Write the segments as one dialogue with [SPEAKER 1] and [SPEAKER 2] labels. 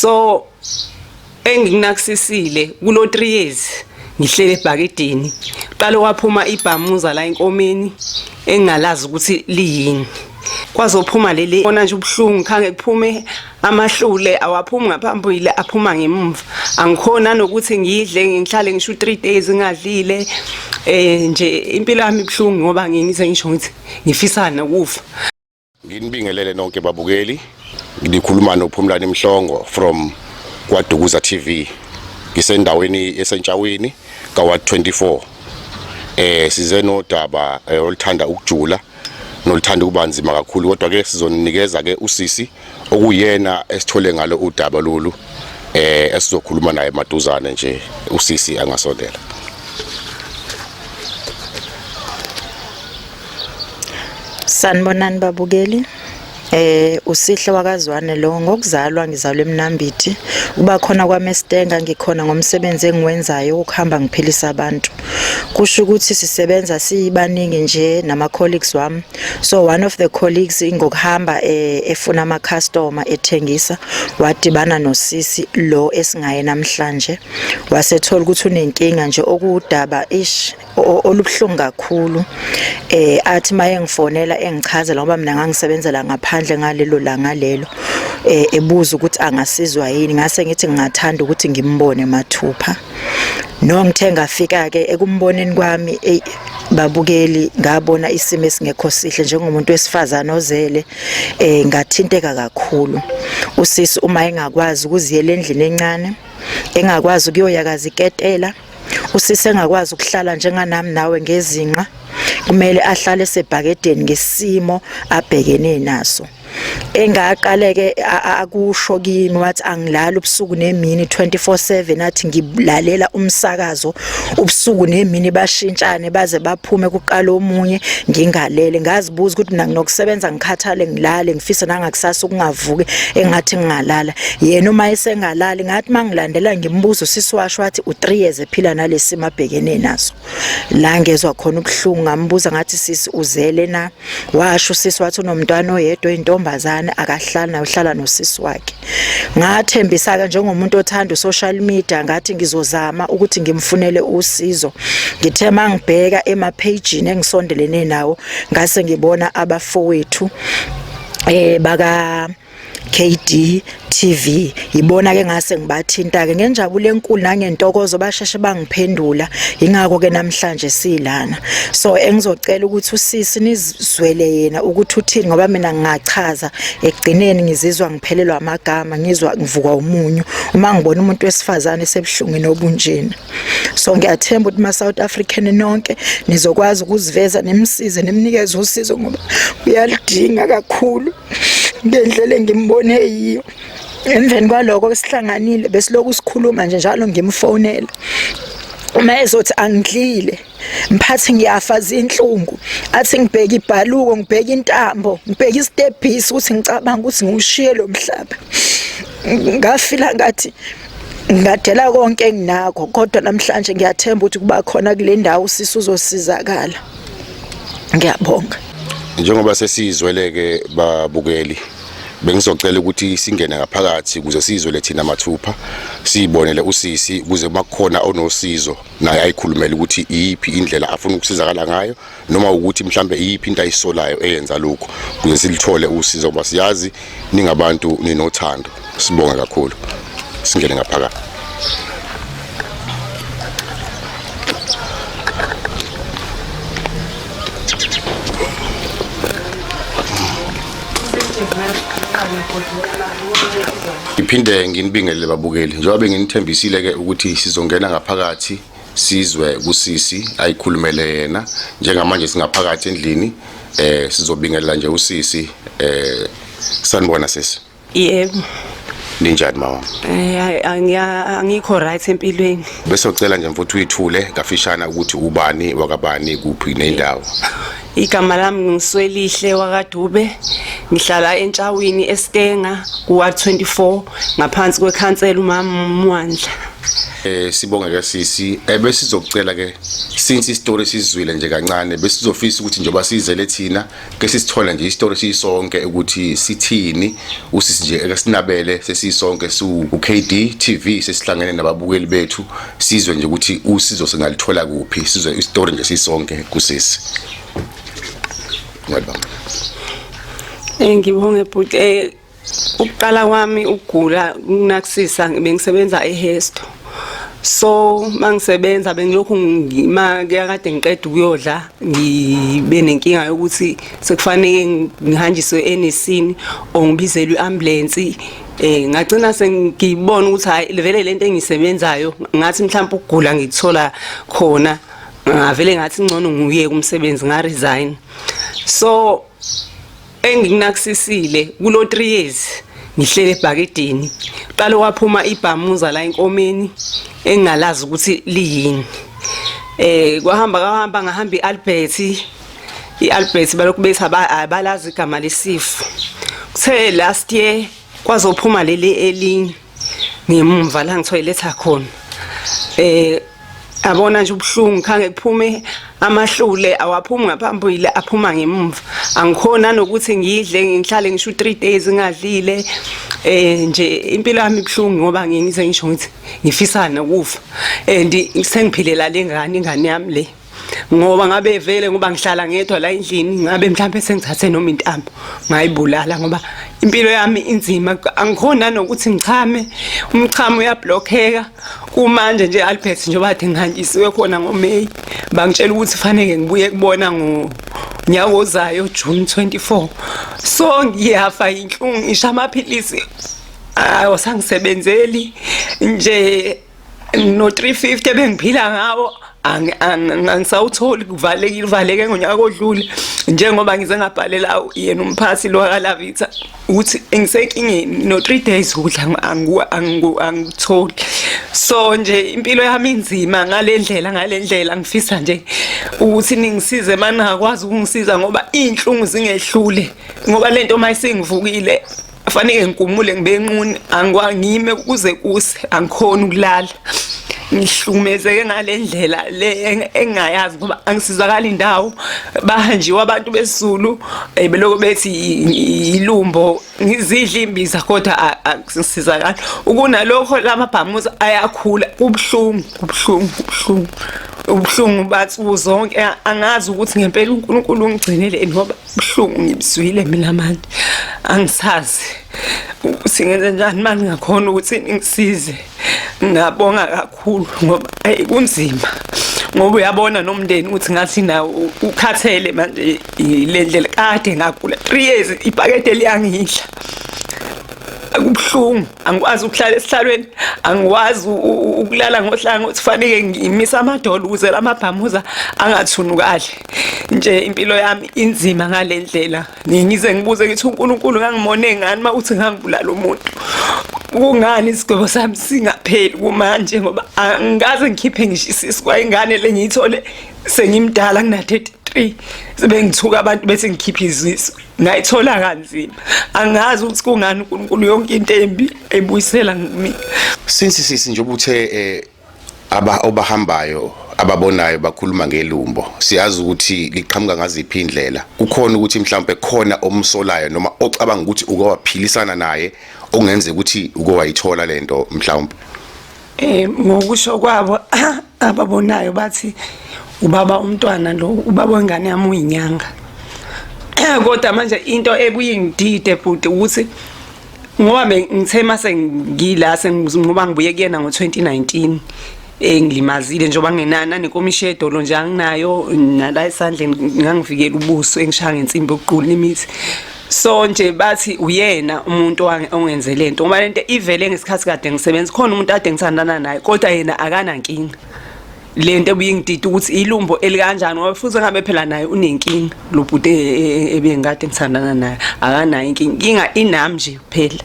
[SPEAKER 1] so engikunakisisile kulo 3 years ngihlele ebhakidini qale waphuma ibhamuza la enkomeni engingalazi ukuthi liyini kwazophuma leli ona nje ubuhlungu khange kuphume amahlule awaphumi ngaphambili aphuma ngemumva angikhona nokuthi ngidle ngihlale ngisho 3 days ngadlile eh nje impilo yami ibuhlungu ngoba ngize ngisho ngithi ngifisana ukufa Nginibingelele
[SPEAKER 2] nonke babukeli. Ngikhuluma noPhumlani Mhlongo from kwaDukuza TV. Ngisendaweni esentshaweni kaWard 24. Eh size nodaba eh, oluthanda ukujula noluthanda ukuba nzima kakhulu kodwa ke sizoninikeza ke usisi okuyena esithole ngalo udaba lolu eh esizokhuluma naye maduzane nje usisi angasondela.
[SPEAKER 3] Sanibonani babukeli. Eh usihle wakazwane lo ngokuzalwa ngizalwe eMnambithi uba khona kwaMestenga ngikhona ngomsebenzi engiwenzayo ukuhamba ngiphilisa abantu kusho ukuthi sisebenza siyibaningi nje nama colleagues wami so one of the colleagues ingokuhamba eh, efuna ama customer ethengisa wadibana nosisi lo esingaye namhlanje wasethola ukuthi unenkinga nje okuwudaba ish olubuhlungu kakhulu eh athi maye ngifonela engichazela ngoba mina ngangisebenzela ngaphandle ngalelo langa lelo eh ebuza ukuthi angasizwa yini ngase ngithi ngingathanda ukuthi ngimbone mathupha no ngithe ngafika ke ekumboneni kwami babukeli ngabona isimo esingekho sihle njengomuntu wesifazana ozele eh ngathinteka kakhulu usisi uma engakwazi ukuziyela endlini encane engakwazi ukuyoyakaza iketela usisi engakwazi ukuhlala njenganami nawe ngezinqa kumele ahlale esebhakedeni ngesimo abhekene naso engaqaleke akusho kimi wathi angilali ubusuku nemini 24/7 athi ngilalela umsakazo ubusuku nemini bashintshane baze baphume kuqala omunye ngingalele ngazibuza ukuthi mina nginokusebenza ngikhathale ngilale ngifise nangakusasa ukungavuki engathi ngingalala yena uma esengalali ngathi mangilandela ngimbuza usisi washo wathi u3 years ephila nalesimo abhekene naso la ngezwe khona ubuhlungu ngambuza ngathi sisi uzele na washo usisi wathi unomntwana oyedwa intombazane akahlali na uhlala nosisi wakhe ngathembisa ke njengomuntu othanda usocial media ngathi ngizozama ukuthi ngimfunele usizo ngithe mangibheka ema page engisondelene nawo ngase ngibona abafowethu eh baka KD TV yibona ke ngase ngibathinta ke ngenjabulo enkulu nangentokozo basheshe bangiphendula ingakho ke namhlanje silana so engizocela ukuthi usisi nizwele yena ukuthi uthini ngoba mina ngingachaza ekugcineni ngizizwa ngiphelelwa amagama ngizwa ngivukwa umunyu uma ngibona umuntu wesifazane esebuhlungwini obunjena so ngiyathemba ukuthi ma South African nonke nizokwazi ukuziveza nemsize nemnikeze usizo ngoba uyalidinga kakhulu ngendlela engimbone yiyo emveni kwaloko besihlanganile besilokhu sikhuluma nje njalo ngimfonela uma ezothi angidlile mphathi ngiyafa zinhlungu athi ngibheke ibhaluko ngibheke intambo ngibheke isitebhisi ukuthi ngicabanga ukuthi ngiwushiye lo mhlaba ngafila ngathi ngadela konke enginakho kodwa namhlanje ngiyathemba ukuthi kuba khona kule ndawo sisi uzosizakala ngiyabonga Njengoba
[SPEAKER 2] sesizweleke babukeli bengizocela ukuthi singene ngaphakathi ukuze sizwe lethina mathupha siyibonele usisi kuze makukhona onosizo naye ayikhulumele ukuthi iyiphi indlela afuna ukusizakala ngayo noma ukuthi mhlambe iyiphi into ayisolayo eyenza lokho kuze silithole usizo ngoba siyazi ningabantu ninothando sibonga kakhulu singene ngaphakathi ngiphinde nginibingelele babukeli njengoba benginithembisile-ke ukuthi sizongena ngaphakathi sizwe kusisi ayikhulumele yena njengamanje singaphakathi endlini eh sizobingelela nje usisi eh sanibona sisi yebo
[SPEAKER 1] ninjani
[SPEAKER 2] mama eh
[SPEAKER 1] angikho right empilweni bese ucela nje mfuthu
[SPEAKER 2] uyithule kafishana ukuthi ubani wakabani kuphi nendawo igama
[SPEAKER 1] lami ngiswelihle wakadube ngihlala entshawini eStenga kuwa 24 ngaphansi kwekhansela umama Mwandla Eh
[SPEAKER 2] sibonge ke sisi eh, besizocela ke since istory sizwile nje kancane besizofisa ukuthi njengoba sizele thina ke sisithola nje istory sisonke ukuthi sithini usisi nje eke sinabele sesisonke su uKD TV sesihlangene nababukeli bethu sizwe nje ukuthi usizo singalithola kuphi sizwe istory nje sisonke kusisi Ngiyabonga. Eh ngibonge
[SPEAKER 1] bhuti eh Ukuqala kwami ukugula kunakusisa bengisebenza eHesto. So mangisebenza bengilokhu ngima kuyakade ngiqeda ukuyodla ngibe nenkinga yokuthi sekufanele ngihanjiswe enesini or ngibizelwe iambulance eh ngagcina sengibona ukuthi hayi vele lento engisebenzayo ngathi mhlawumbe ukugula ngikuthola khona ngavele ngathi ngcono nguye kumsebenzi nga resign so engikunakisisile kulo 3 years ngihlele ebhakedeni qale waphuma ibhamuza la enkomeni engingalazi ukuthi liyini eh kwahamba kwahamba ngahamba iAlbert iAlbert balokhu bethi abalazi igama lesifo kuthe last year kwazophuma leli elinye ngimumva la ngithoyiletha khona eh abona nje ubuhlungu khange kuphume amahlule awaphumi ngaphambili aphuma ngemumva angikhona nokuthi ngidle ngihlale ngisho 3 days ngadlile eh nje impilo yami ibuhlungu ngoba ngize ngisho ngithi ngifisana ukufa and sengiphilela lengane ingane yami le ngoba ngabe vele ngoba ngihlala ngedwa la endlini ngabe mhlawumbe sengithathe noma intambo ngayibulala ngoba impilo yami inzima angikhona nokuthi ngichame umchamo uyablockeka kumanje nje Albert njengoba athi ngihantshisiwe khona ngoMay bangitshela ukuthi fanele ngibuye kubona ngo nyaka ozayo June 24 so ngiyafa inhlungu ngisha amaphilisi awasangisebenzeli nje ngino 350 bengiphila ngawo angisawutholi kuvalekile uvaleke ngonyaka odlule njengoba ngize ngabhalela yena umphathi lo kalavitha ukuthi ngisenkingeni no 3 days ukudla angikutholi so nje impilo yami inzima ngalendlela ngalendlela ngifisa nje ukuthi ningisize maningakwazi ukungisiza ngoba izinhlungu zingehlule ngoba lento mayisingivukile afaneke ngikumule ngibe nquni angikwangime kuze kuse angikhona ukulala ngihlukumezeke ngale ndlela le engayazi ngoba angisizakali indawo bahanjiwe abantu besizulu eh, beloko bethi yilumbo ngizidla imbiza kodwa angisizakali ukunalokho lamabhamuza ayakhula kubuhlungu kubuhlungu kubuhlungu ubuhlungu bathu zonke angazi ukuthi ngempela uNkulunkulu ungigcineleni ngoba buhlungu ngibizwile mina manje angisazi singenze njani mani ngakhona ukuthi ngisize ngabonga kakhulu ngoba ayi kunzima ngoba uyabona nomndeni ukuthi ngathi nawo ukhathele manje le ndlela kade ngagula 3 years ipakete liyangidla akubuhlungu angikwazi ukuhlala esihlalweni angikwazi ukulala ngohlanga ukuthi fanike ngimise amadolo ukuze lamabhamuza angathunukali nje impilo yami inzima ngale ndlela ngize ngibuze ukuthi uNkulunkulu ngangimone ngani uma uthi ngangibulala umuntu kungani isigwebo sami singapheli kumanje ngoba angikaze ngikhiphe ngisho isisu kwayingane le ngiyithole sengimdala ngina-33 sebengithuka abantu bese ngikhiphe izisu ngayithola kanzima angazi ukuthi kungani uNkulunkulu yonke into embi ebuyisela kimi since sisi
[SPEAKER 2] nje ubuthe eh, aba obahambayo ababonayo bakhuluma ngelumbo siyazi ukuthi liqhamuka ngaziphi indlela kukhona ukuthi mhlawumbe khona omsolayo noma ocabanga ukuthi uke waphilisana naye okungenzeka ukuthi uke wayithola lento mhlawumbe eh
[SPEAKER 1] ngokusho kwabo ababonayo bathi ubaba umntwana lo ubaba wengane yami uyinyanga kodwa manje into ekuyingidide bhuti ukuthi ngoba ngithe mase ngila sengizoba ngibuye kuyena ngo2019 engilimazile njengoba ngenana nenkomishi yedolo nje anginayo nala esandleni ngangivikela ubuso engishaya ngensimbi yokuqula imithi so nje bathi uyena umuntu ongenze lento ngoba lento ivele ngesikhathi kade ngisebenza khona umuntu ade ngithandana naye kodwa yena akanankinga lento ebuyingidida ukuthi ilumbo elikanjani ngoba futhi ngabe phela naye unenkinga lo bhuti e, e, e, ebengikade ngithandana naye akanayo inkinga inga inami nje kuphela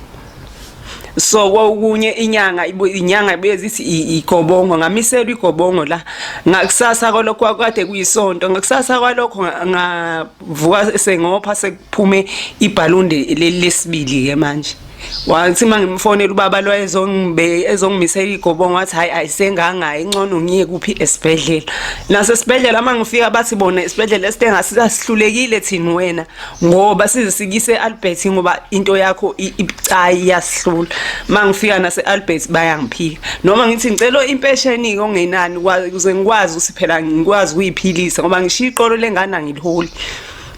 [SPEAKER 1] so kokunye inyanga inyanga ibuye zithi igobongo ngamiselwa igobongo la ngakusasa kwalokho kwade kuyisonto ngakusasa kwalokho nga vuka sengopha sekuphume ibhalunde lesibili ke manje wathi mangimfonela ubaba lo ezongibe ezongimisela igobongo wathi hayi ayisengangayi incono ngiye kuphi esibhedlela nase sibhedlela mangifika bathi bona isibhedlela esithenga sisihlulekile thini wena ngoba sizisikise Albert ngoba into yakho ibucayi yasihlula mangifika nase Albert bayangiphika noma ngithi ngicela impesheni-ke ongenani ukuze ngikwazi ukuthi phela ngikwazi ukuyiphilisa ngoba ngishiya iqolo lengane angiliholi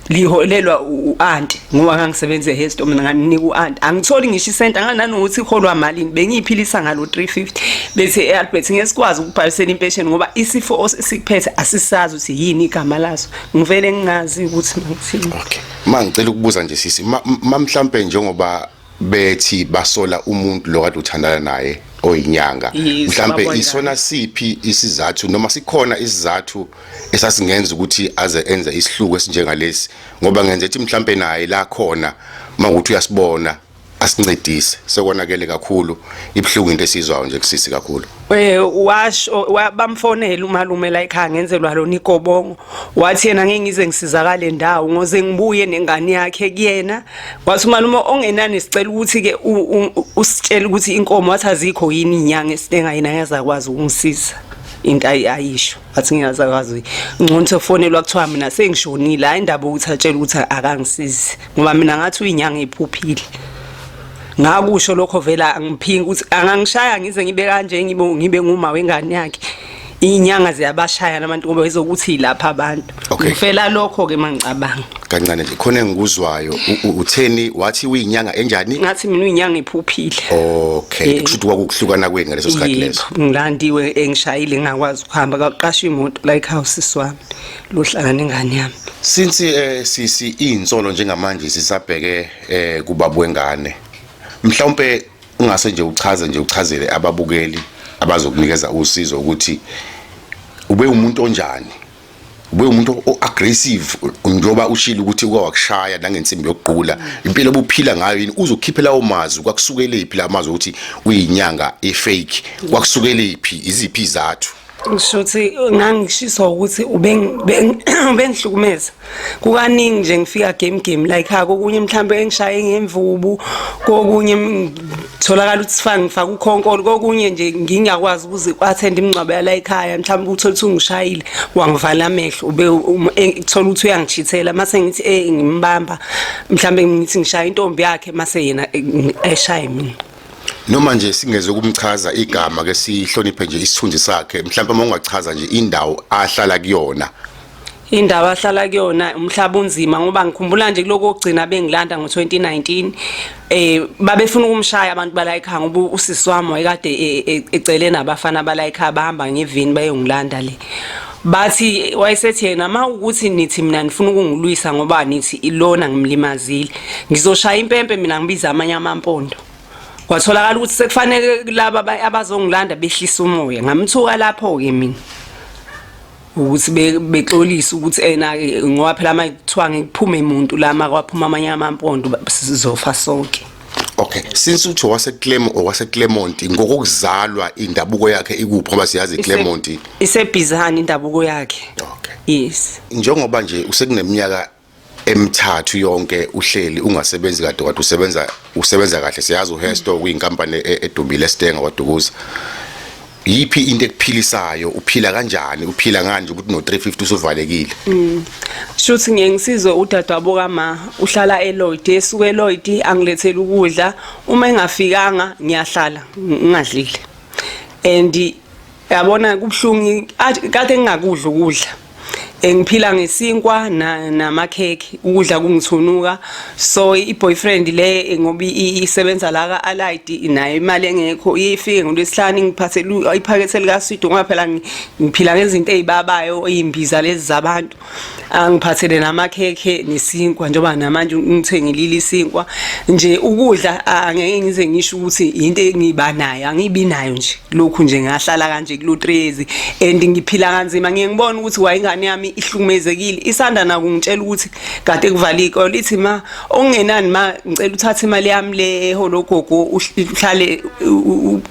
[SPEAKER 1] liholelwa u-anti ngoba ngangisebenza ehestom mina nganinika u-anti angitholi ngisho isenti angananokuthi iholwa malini bengiyiphilisa ngalo 350 bethi e-albert ngesikwazi ukubhalisela impesheni ngoba isifo esikuphethe asisazi ukuthi yini igama laso ngivele ngingazi ukuthi mangithini okay ma ngicela
[SPEAKER 2] ukubuza nje sisi ma mhlawumpe njengoba bethi basola umuntu lo kade uthandana naye oyinyanga mhlambe isona siphi isizathu noma sikhona isizathu esasingenza ukuthi aze enze isihluku esinjengalesi ngoba ngenze ethi mhlambe naye la khona mangukuthi uyasibona asincedise sekonakele kakhulu ibuhlungu into esizwayo nje kusisi kakhulu Eh washo
[SPEAKER 1] bamfonela umalume la ekhaya ngenzelwa lona igobongo wathi yena ngeke ngize ngisizakale ndawo ngoze ngibuye nengane yakhe kuyena wathi umalume ongenani sicela ukuthi ke usitshela ukuthi inkomo wathi azikho yini inyanga esinenga yena ngezakwazi ukungisiza into ayisho athi ngiyazakwazi ngcono sofonelwa kuthiwa mina sengishonile hayi indaba ukuthi atshela ukuthi akangisizi ngoba mina ngathi uyinyanga iphuphile ngakusho lokho vela angiphingi ukuthi angangishaya ngize ngibe kanje ngibe ngibe nguma wengane yakhe inyanga ziyabashaya nabantu ngoba izokuthi lapha abantu Okay. Ngifela lokho ke mangicabanga. Kancane nje khona
[SPEAKER 2] engikuzwayo u- u- utheni wathi uyinyanga enjani? Ngathi mina uyinyanga
[SPEAKER 1] iphuphile. Okay, Eh.
[SPEAKER 2] kushuthi kwakuhlukana kwenu ngaleso sikhathi leso. Yebo, ngilandiwe
[SPEAKER 1] engishayile ngakwazi ukuhamba kwaqasha imoto la ekhaya sisi wami lohlala nengane yami. Since eh
[SPEAKER 2] sisi insolo njengamanje sisabheke eh kubabu wengane. Mhlawumbe ungase nje uchaze nje uchazele ababukeli abazokunikeza usizo ukuthi ube umuntu onjani ube umuntu o-aggressive njengoba ushilo ukuthi uke wakushaya nangensimbi yokuqula impilo obuphila ngayo yini uzokhiphe lawo mazwi kwakusukelephi la mazwi ukuthi uyinyanga efake kwakusukelephi iziphi izathu ngisho ukuthi
[SPEAKER 1] ngangishiswa ukuthi ubengihlukumeza kukaningi nje ngifika game game like ha kokunye mhlawumbe engishaye ngemvubu kokunye tholakala ukuthi sifake ngifaka ukhonkolo kokunye nje ngingakwazi ukuze kwathenda imingcwabo yala ekhaya mhlawumbe ukuthola ukuthi ungishayile wangivala amehlo ube um, e, kuthola ukuthi uyangishithela mase ngithi eh ngimbamba mhlawumbe ngithi ngishaya intombi yakhe mase yena e, eshaye mina noma nje
[SPEAKER 2] singeze ukumchaza igama ke sihloniphe nje isithunzi sakhe mhlawumbe uma ungachaza nje indawo ahlala kuyona indawo
[SPEAKER 1] ahlala kuyona umhlaba unzima ngoba ngikhumbula nje kuloko ogcina bengilanda ngo-2019 eh babefuna ukumshaya abantu bala ekhaya ngoba usisi wami wayekade e, e, ecele nabafana bala ekhaya bahamba ngevini bayongilanda le bathi wayesethi yena ma ukuthi nithi mina nifuna ukungilwisa ngoba nithi ilona ngimlimazile ngizoshaya impempe mina ngibiza amanye amampondo kwatholakala ukuthi sekufanele laba abazongilanda behlisa umoya ngamthuka lapho-ke mina ukuthi bexolise ukuthi ena ngoba phela uma kuthiwa ngikuphume muntu la makwaphuma amanye amampondo sizofa sonke Okay since
[SPEAKER 2] uthi wase Clem or wase Clermont ngokuzalwa indabuko yakhe ikuphi ngoba siyazi Clermont isebhizani
[SPEAKER 1] indabuko yakhe Okay yes
[SPEAKER 2] njengoba
[SPEAKER 1] nje
[SPEAKER 2] usekuneminyaka emithathu yonke uhleli ungasebenzi kade kade usebenza usebenza kahle siyazi uHesto kuyinkampani e-, edumile esitenga kwaDukuza yiphi into ekuphilisayo uphila kanjani uphila nganje ukuthi no 350 usuvalekile mm.
[SPEAKER 1] shuthi ngiye ngisizwe udadewabo kama uhlala eLoyd esuke eLoyd angilethela ukudla uma engafikanga ngiyahlala ngingadlile and yabona kubuhlungu kade ngingakudla ukudla engiphila ngesinkwa namakhekhe ukudla kungithunuka so i-boyfriend le ngoba isebenza la ka-alid nayo imali engekho ifike ngolwesihlanu ingiphathele iphakethe likaswidi ngoba phela ngiphila ngezinto ey'babayo iy'mbiza lezi zabantu angiphathele namakhekhe nesinkwa njengoba namanje ngithengilile isinkwa nje ukudla angeke ngize ngisho ukuthi into engiba nayo angibi nayo nje lokhu nje ngahlala kanje kulotrezi and ngiphila kanzima ngiye ngibona ukuthi wayingane yami ihlukumezekile isanda nakungitshela ukuthi kade kuvala ikole ithi ma Okungenani ma ngicela uthathe imali yami le eholo ogogo uhlale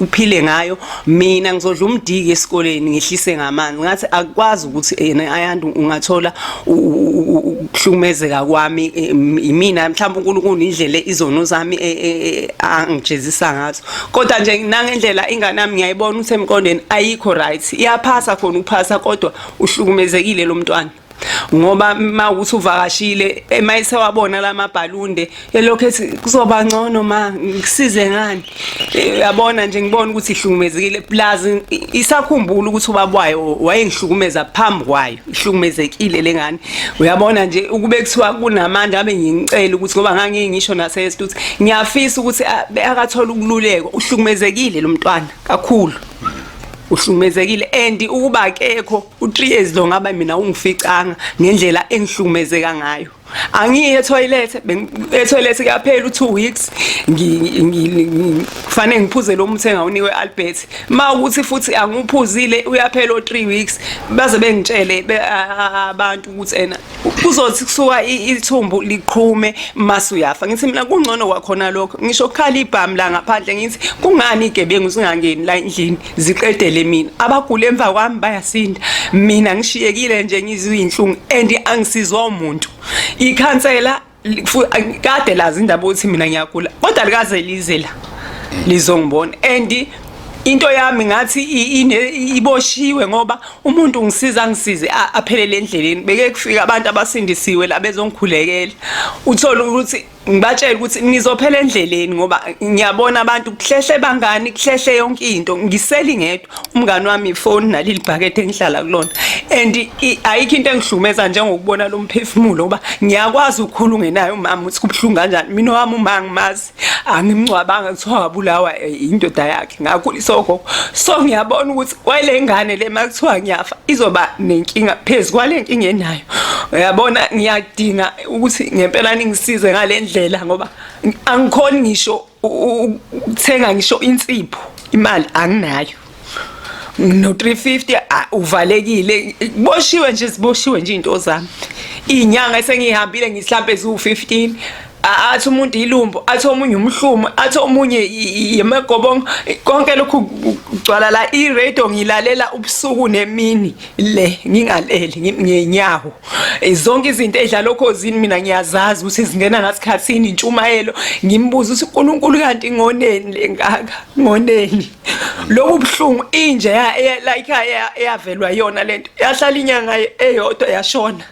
[SPEAKER 1] uphile ngayo mina ngizodla umdiki esikoleni ngihlise ngamanzi ngathi akwazi ukuthi yena ayanti ungathola ukuhlumezeka kwami imina mhlawumbe uNkulunkulu indlela izono zami e, e, e, angijezisa ngazo kodwa nje nangendlela ingane yami ngiyayibona ukuthi emqondweni ayikho right iyaphasa khona ukuphasa kodwa uhlukumezekile lo mntwana ngoba uma ukuthi uvakashile uma esewabona lamabhalunde elokhu ethi kuzoba ngcono ma ngisize ngani eh, yabona nje ngibona ukuthi ihlukumezekile plus isakhumbula ukuthi ubabwayo wayengihlukumeza phambi kwayo ihlukumezekile lengane uyabona nje ukube kuthiwa kunamandla abe ngicela ukuthi ngoba ngangeke ngisho nasesithu ukuthi ngiyafisa ukuthi akathola ukululeko uhlukumezekile lo mntwana kakhulu uhlukumezekile and ukuba akekho u-3 years lo ngaba mina ungificanga ngendlela engihlukumezeka ngayo angiye etoilet etoilet kuyaphela u2 weeks ngifanele ngiphuze lo muthi engawunikwe Albert ma ukuthi futhi angiphuzile uyaphela o3 weeks baze bengitshele abantu ukuthi ena kuzothi kusuka ithumbu liqhume mase uyafa ngithi mina kungcono kwakhona lokho ngisho kukhala ibhamu la ngaphandle ngithi kungani igebengu singangeni la endlini ziqedele mina abagula emva kwami bayasinda mina ngishiyekile nje ngizwe inhlungu and angisizwa umuntu ikhansela kade lazi indaba ukuthi mina ngiyagula kodwa likaze lize la lizongibona and into yami ngathi iboshiwe ngoba umuntu ngisiza ngisize aphelele endleleni beke kufika abantu abasindisiwe la bezongikhulekela uthola ukuthi ngibatshela ukuthi nizophela endleleni ngoba ngiyabona abantu kuhlehle bangani kuhlehle yonke into ngiseli ngedwa umngani wami ifoni naleli bhakethe engihlala kulona and ayikho into engihlumeza njengokubona lo mphefumulo ngoba ngiyakwazi ukukhula ungenayo umama ukuthi kubuhlungu kanjani mina wami uma ngimazi angimngcwabanga kuthiwa wabulawa eh, indoda yakhe ngakhuliswa ogogo so ngiyabona ukuthi kwale ngane le makuthiwa ngiyafa izoba nenkinga phezu kwale nkinga enayo uyabona ngiyadinga ukuthi ngempela ningisize ngalendlela ngoba angikhoni ngisho ukuthenga ngisho insipho imali anginayo no 350 uvalekile boshiwe nje siboshiwe nje into zami inyanga esengihambile ngihlambe zu 15 athi umuntu ilumbu athi omunye umhlumo athi omunye yemagobongo konke lokhu kugcwala la i-radio ngilalela ubusuku nemini le ngingaleli ngenyawo Eh, zonke izinto edlala okhozini mina ngiyazazi ukuthi zingena ngasikhathini intshumayelo ngimbuza ukuthi uNkulunkulu kanti ngoneni lengaka ngoneni lobu buhlungu inje ya like eyavelwa yona lento yahlala inyanga eyodwa yashona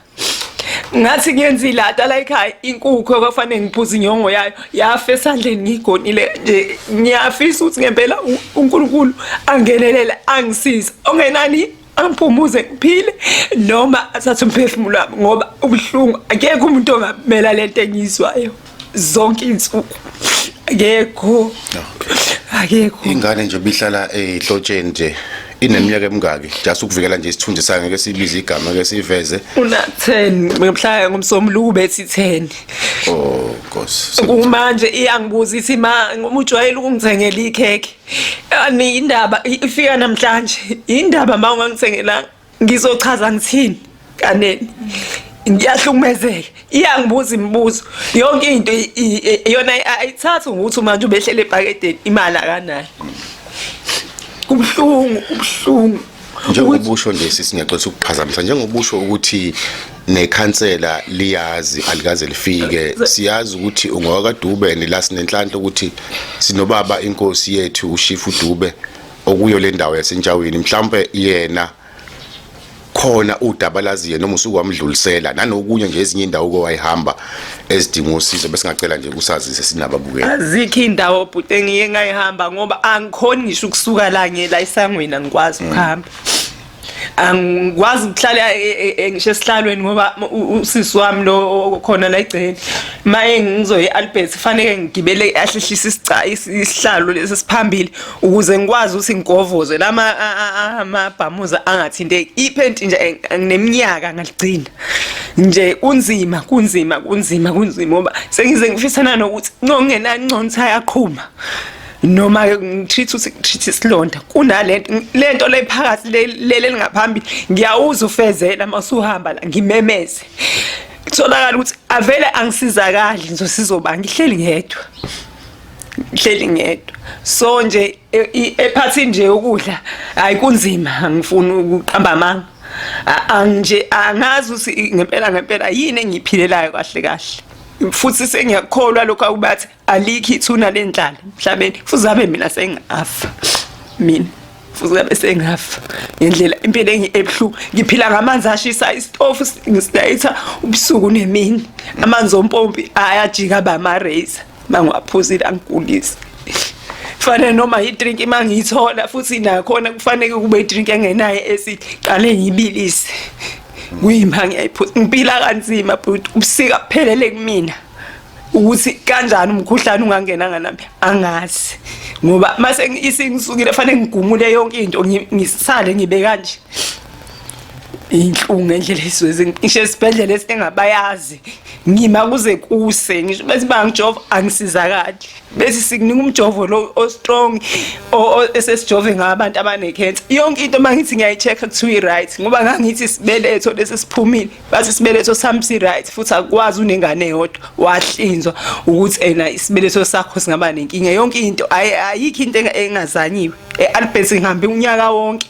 [SPEAKER 1] ngathi ngenzi lata la ekhaya inkukhu ekwafanele ngiphuze inyongo yayo yafa esandleni ngigonile nje ngiyafisa ukuthi ngempela uNkulunkulu angenelele angisize ongenani angiphumuze ngiphile noma athathe umphefumulo wami ngoba ubuhlungu akekho umuntu ongamela le nto engiyizwayo zonke iy'nsuku akekho akekho ingane nje bihlala
[SPEAKER 2] ehlotsheni nje ineminyaka emingaki just ukuvikela nje isithunzi sayo ngeke sibize igama ke siveze una 10
[SPEAKER 1] ngibuhlaya ngomsombuluko bethi 10 oh
[SPEAKER 2] nkosi kumanje
[SPEAKER 1] iyangibuza ithi ma ngomujwayela ukungithengela ikhekhe Ani indaba ifika namhlanje. Indaba ma ungangithengelanga ngizochaza ngithini kaneni. Ngiyahlukumezeka. Iyangibuza imibuzo. Yonke into yona ayithathi ukuthi manje ubehlele ebhakedeni imali akanayo. Kubuhlungu, kubuhlungu. njengobusho
[SPEAKER 2] nje sisinyaxolisa ukuphazamisa njengobusho ukuthi nekhansela liyazi alikaze lifike siyazi ukuthi ungowakadube nila sinenhlanhla ukuthi sinobaba inkosi yethu ushifu dube okuyo le ndawo yasentshawini mhlawumbe yena khona udaba laziye noma usuku wamdlulisela nanokunye nje ezinye indawo ko wayihamba ezidinga usizo bese ngacela nje usazise sinababukeli azikho indawo
[SPEAKER 1] bhuti engiye ngayihamba ngoba angikhoni ngisho ukusuka la ngiyela isangweni angikwazi mm. ukuhamba angikwazi ukuhlala e, e, e, ngisho esihlalweni ngoba usisi wami lo khona la egceni maye ngizoye Albert kufanele ngigibele ahlehlisa isica isihlalo lesi siphambili ukuze ngikwazi ukuthi ngigovoze lama amabhamuza angathinteki iphenti nje ngineminyaka ngaligcina nje kunzima kunzima kunzima kunzima ngoba sengize ngifisana nokuthi ngongena nconsa yaqhuma noma ngitreat uthi ngitreat isilonda kunalento lento lephakathi lele lingaphambili ngiyawuza ufezela masuhamba la ngimemeze kutholakala ukuthi avele angisizakali ngizosizoba ngihleli ngedwa ngihleli ngedwa so nje E- i- ephathi nje ukudla hayi kunzima angifuni ukuqamba amanga A- angije angazi ukuthi ngempela ngempela yini engiyiphilelayo kahle kahle futhi sengiyakholwa lokho akubathi alikho ithuna lenhlala emhlabeni futhi abe mina sengafa mina futhi abe sengafa ngendlela impilo engi- ebuhlungu ngiphila ngamanzi ashisa isitofu ngisidayisa ubusuku nemini amanzi ompompi ayajika bama-razer mangiwaphuzile angigulisi kufanele noma idrink uma ngiyithola futhi nakhona kufanele kube idrink engenayo esiqale ngiyibilise kuyima ngiyayiphuza ngipila kanzima bhuti ubusika kuphelele kumina ukuthi kanjani umkhuhlane ungangena nganami angazi ngoba mase isingisukile fanele ngigumule yonke into ngisale ngibe kanje inhlungu ngendlela esizwe ngisho esibhedlela esingabayazi ngima kuze kuse ngisho bese bangijova angisizakali bese sikunika umjovo lo o strong esesijove ngabantu abanecancer yonke into mangithi ngiyayicheck kuthiwa right ngoba ngangithi sibeletho lesi siphumile bathi sibeletho sami si right futhi akwazi unengane yodwa wahlinzwa ukuthi ena isibeletho sakho singaba nenkinga yonke into ayikho into engazanyiwe e Albert ngihambe unyaka wonke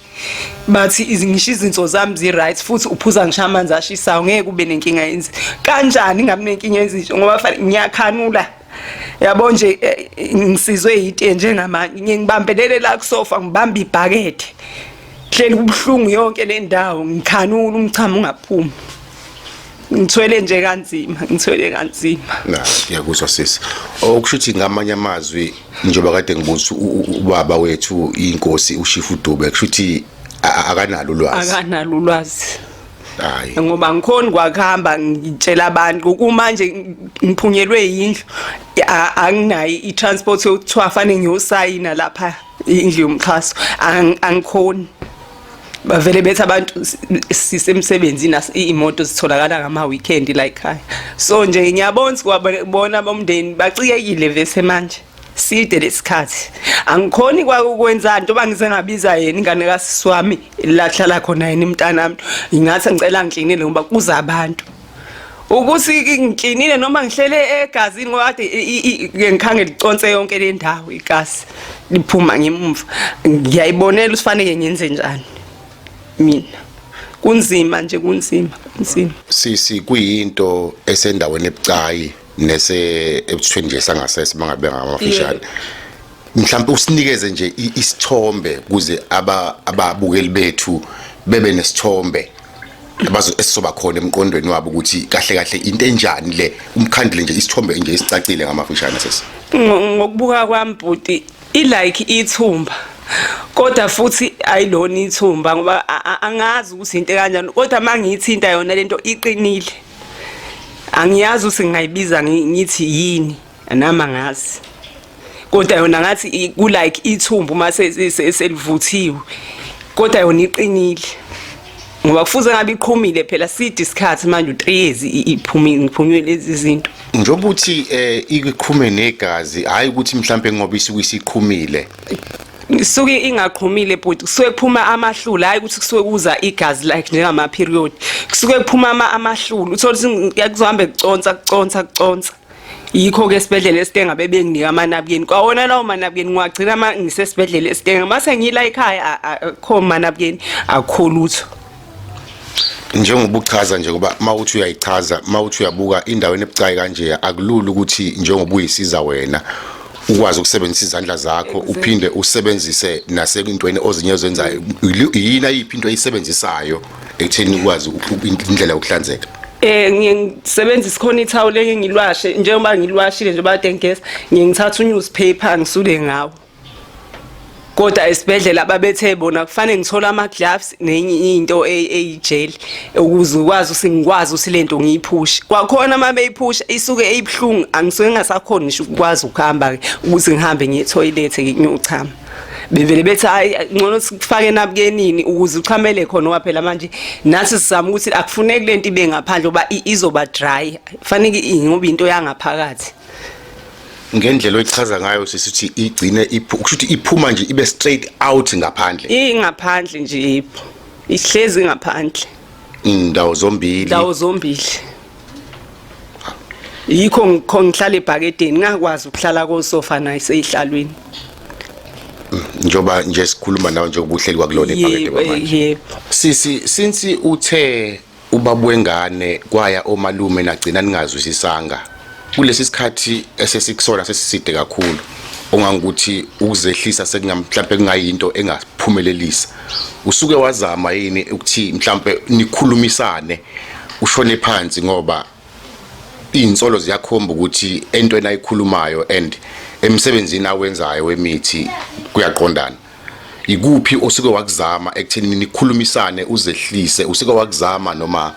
[SPEAKER 1] bathi ngisho izinso zami zi-right futhi uphuza ngisho amanzi ashisayo ngeke ube nenkinga yenzi kanjani ngabe nenkinga yenzi ngoba fanele ngiyakhanula yabo nje eh, ngisizwe yite njengamanje ngiye ngibambelele la kusofa ngibambe ibhakede hleli kubuhlungu yonke le ndawo ngikhanula umchamo ungaphumi ngithwele nje kanzima ngithwele kanzima
[SPEAKER 2] na ngiyakuzwa sisi okusho ukuthi ngamanye amazwi njengoba kade ngibuza ubaba wethu inkosi ushifu dube kusho ukuthi akanalo ulwazi akanalo ulwazi hayi ngoba ngikhona
[SPEAKER 1] kwakuhamba ngitshela abantu kumanje ngiphunyelwe yindlu anginayi i-transport yokuthiwa fanele ngiyosayina lapha indlu yomxhaso angikhoni bavele bethi abantu sisemsebenzini imoto zitholakala ngama weekend la ekhaya so nje ngiyabona sikwabona abomndeni bacikekile vese manje side lesikhathi angikhoni kwakwenza nto bangize ngabiza yena ingane kasisi wami lahlala khona yena imntanami ngathi ngicela ngiklinele ngoba kuza abantu ukuthi ngiklinile noma ngihlele egazini ngoba kade ngikhange liconse yonke le ndawo igazi liphuma ngemumva ngiyayibonela usifaneke ngenze njani mina kunzima nje kunzima kunzima sisi kuyinto
[SPEAKER 2] esendaweni ebucayi nese ebuthweni nje sangasese mangabe ngamafishane mhlawumbe usinikeze nje isithombe kuze ababukeli bethu bebe nesithombe abazo esizoba khona emqondweni wabo ukuthi kahle kahle into enjani le umkhandile nje isithombe nje isicacile ngamafishane sesi ngokubuka
[SPEAKER 1] kwami bhuti i like ithumba kodwa futhi ayilona ithumba ngoba angazi ukuthi into kanjani kodwa mangiyithinta yona lento iqinile angiyazi ukuthi ngingayibiza ngithi yini Anama ngazi. Kodwa yona ngathi ku like ithumbu uma selivuthiwe. Kodwa yona iqinile. Ngoba kufuze ngabe iqhumile phela sidi isikhathi manje u3 years iphumile ngiphunywe lezi zinto. Njengoba uthi
[SPEAKER 2] eh iqhume negazi hayi ukuthi mhlambe ngoba isuke isiqhumile. isuke
[SPEAKER 1] ingaqhumile bhuti kusuke kuphuma amahlula hayi ukuthi kusuke kuza igazi like njengama period kusuke kuphuma ama amahlula uthola ukuthi kuzohambe kuconsa kuconsa kuconsa yikho ke esibhedlela esitenga bebenginika amanabukeni kwawona lawo manabukeni ngiwagcina ma ngisesibhedlela esitenga mase ngiyila ekhaya akho manabukeni akho lutho
[SPEAKER 2] njengoba uchaza nje ngoba mawuthi uyayichaza mawuthi uyabuka indawo enebucayi kanje akulula ukuthi njengoba uyisiza wena ukwazi ukusebenzisa izandla zakho uphinde usebenzise nasekuntweni ozinye ozenzayo yini ayiphi into oyisebenzisayo ekutheni ukwazi indlela yokuhlanzeka eh ngiye ngisebenza
[SPEAKER 1] isikhona ithawula enye ngilwashe njengoba ngilwashile nje bade ngigeza ngiye ngithatha unewspaper ngisule ngawo kodwa esibhedlela babethe bona kufanele ngithole ama gloves nenye into e, eyijeli ukuze ukwazi usingikwazi usilento ngiyiphushe kwakhona uma beyiphusha isuke eyibhlungu angisuke ngasakhona ngisho ukwazi ukuhamba ke ukuthi ngihambe ngiye toilet ngiyochama bevele bethi hayi ngcono sifake nabukenini ukuze uchamele khona ngoba phela manje nathi sizama ukuthi akufuneki lento ibe ngaphandle ngoba izoba dry fanele ingoba into yangaphakathi
[SPEAKER 2] ngendlela oyichaza ngayo sisithi igcine kusho ukuthi iphuma nje ibe straight out ngaphandle ingaphandle nje
[SPEAKER 1] ihlezi ngaphandle indawo
[SPEAKER 2] zombili indawo zombili
[SPEAKER 1] yikho ngikho ngihlala ebhakedeni ngakwazi ukuhlala kosofa naye seyihlalweni njoba
[SPEAKER 2] nje sikhuluma nawe njengoba uhleli kwakulona ibhakede kwamanje yebo sisi
[SPEAKER 1] since
[SPEAKER 2] uthe ubaba wengane kwaya omalume nagcina ningazwisisanga kulesi sikhathi esesikusona sesiside kakhulu ongangukuthi ukuzehlisa sekungamhlawumbe kungayinto engaphumelelisa usuke wazama yini ukuthi mhlambe nikhulumisane ushone phansi ngoba izinsolo ziyakhomba ukuthi entweni ayikhulumayo and emsebenzini awenzayo wemithi kuyaqondana ikuphi osuke wakuzama ekutheni nikhulumisane uzehlise usuke wakuzama noma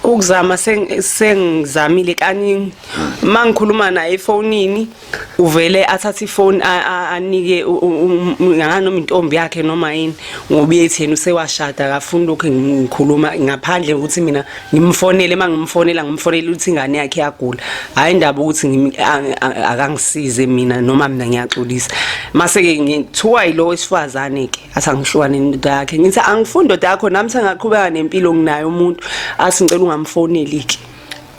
[SPEAKER 2] ukuzama
[SPEAKER 1] sengizamile kaningi mangikhuluma naye efonini uvele athathe ifoni anike ngani noma intombi yakhe noma yini ngoba uyethi yena usewashada akafuni lokhu ngikhuluma ngaphandle ukuthi mina ngimfonele uma ngimfonela ngimfonela ukuthi ingane yakhe yagula hhayi indaba ukuthi akangisize mina noma mina ngiyaxolisa mase-ke ngithiwa yilo wesifazane-ke athi angihlukane nendoda yakhe ngithi angifuni indoda yakho nami sengaqhubeka nempilo nginayo umuntu athi ngicela ungamfoneli-ke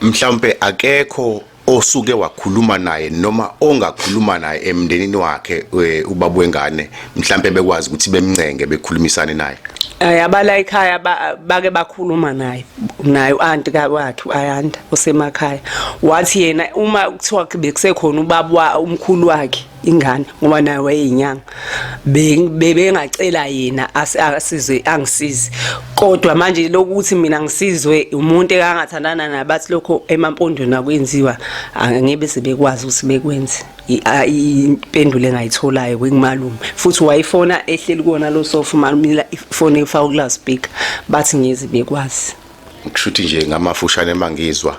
[SPEAKER 1] mhlawumpe
[SPEAKER 2] akekho osuke wakhuluma naye noma ongakhuluma naye emndenini wakhe eh, ubaba wengane mhlambe bekwazi ukuthi bemncenge bekhulumisane naye ayabala ekhaya
[SPEAKER 1] bake bakhuluma naye naye uanti kakwakhe uayanda osemakhaya wathi yena uma kuthiwa bekusekhona ubaba umkhulu wakhe ingane ngoba naye wayeyinyanga bebengacela yena asizwe angisizi kodwa manje lokuthi mina ngisizwe umuntu ekangathandana nabathi lokho emampondweni akwenziwa angebe sebekwazi ukuthi bekwenze impendulo engayitholayo kwikumalume futhi wayifona ehleli kona lo sofa umalume ifone efaka ukulazipika bathi ngezi bekwazi kushuthi nje
[SPEAKER 2] ngamafushane mangizwa